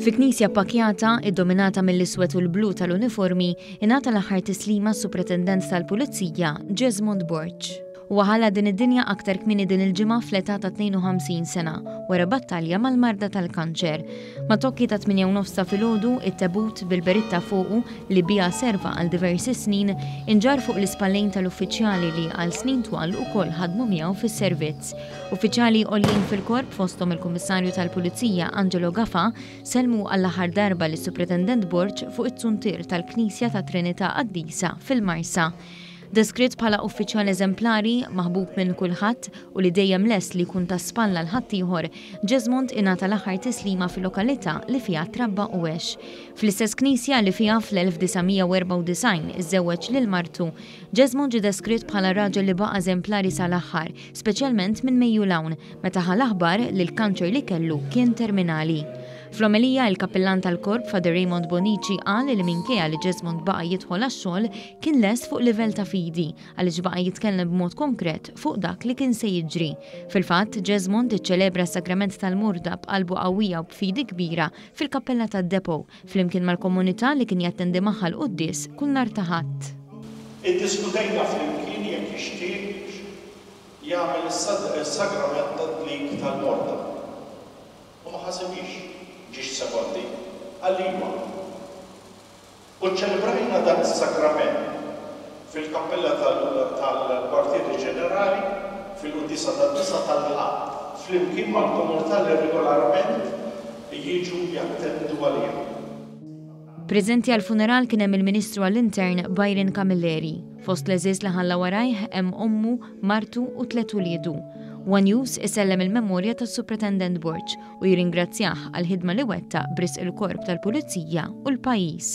Fi knisja pakjata, iddominata mill-iswed u l-blu tal-uniformi, ingħata l-aħħar tislima s-Supretendent tal-Pulizija, Jesmond Borg. Huwa ħalla din id-dinja aktar kmieni din il-ġimgħa fl-età ta' 52 sena wara battalja mal-marda tal-kanċer. Ma' tokki ta' 8 u nofs ta' filgħodu, it-tebut bil-beritta fuqu li biha serva għal diversi snin inġarr fuq l-ispallejn tal-uffiċjali li għal snin twal ukoll ħadmu miegħu fis-servizz. Uffiċjali għoljin fil-Korp fosthom il-Kummissarju tal-Pulizija Angelo Gafa sellmu għall-aħħar darba lis-Supretendent Borg fuq it-suntier tal-Knisja tat-Trinità Qaddisa fil-Marsa. Deskritt bħala uffiċjal eżemplari, maħbub minn kulħadd u li dejjem lest li jkun ta' spalla 'l ħaddieħor, Ġeżmond ingħata l-aħħar tislima fil-lokalità li fiha trabba u għex. Fl-istess knisja li fiha fl-1994 iżżewweġ lil martu, Ġeżmond ġie deskritt bħala raġel li baqa' eżemplari sa l-aħħar, speċjalment minn Mejju 'l hawn, meta ħa l-aħbar li l-kanċer li kellu kien terminali. Fl-omelija, il-Kappillan tal-Korp, Father Raymond Bonnici, qal li minkejja li Ġeżmond baqa' jidħol għax-xogħol, Kien lest fuq livell ta' fidi, għaliex baqa' jitkellem b'mod konkret fuq dak li kien se jiġri. Fil-fatt, Jesmond iċċelebra s-Sagrament tal-Murda b'qalbu qawwija u b'fidi kbira fil-kappella tad-Depot, flimkien mal-komunità li kien jattendi magħha l-quddies kull nhar ta' Ħadd. Iddiskutejna flimkien jekk jixtieqx jagħmel is-Sagrament tad-Dlik tal-Morda, u ma ħasibhiex b'ġiex sekondi, qal li iva. U ċċelebrajna dan is-Sagrament fil-Kappella tal-Kwartieri Ġenerali fil-Quddiesa tad-Disa' tal-Ħadd, flimkien mal-komunità li regolarment jiġu jattendu għaliha. Preżenti għall-funeral kien hemm il-Ministru għall-Intern Byron Camilleri. Fost l-għeżież li ħalla warajh hemm ommu, martu u tliet uliedu. One News isellem il-memorja tas-Supretendent Borg, u jirringrazzjah għall-ħidma li wettaq b'risq il-Korp tal-Pulizija u l-pajjiż.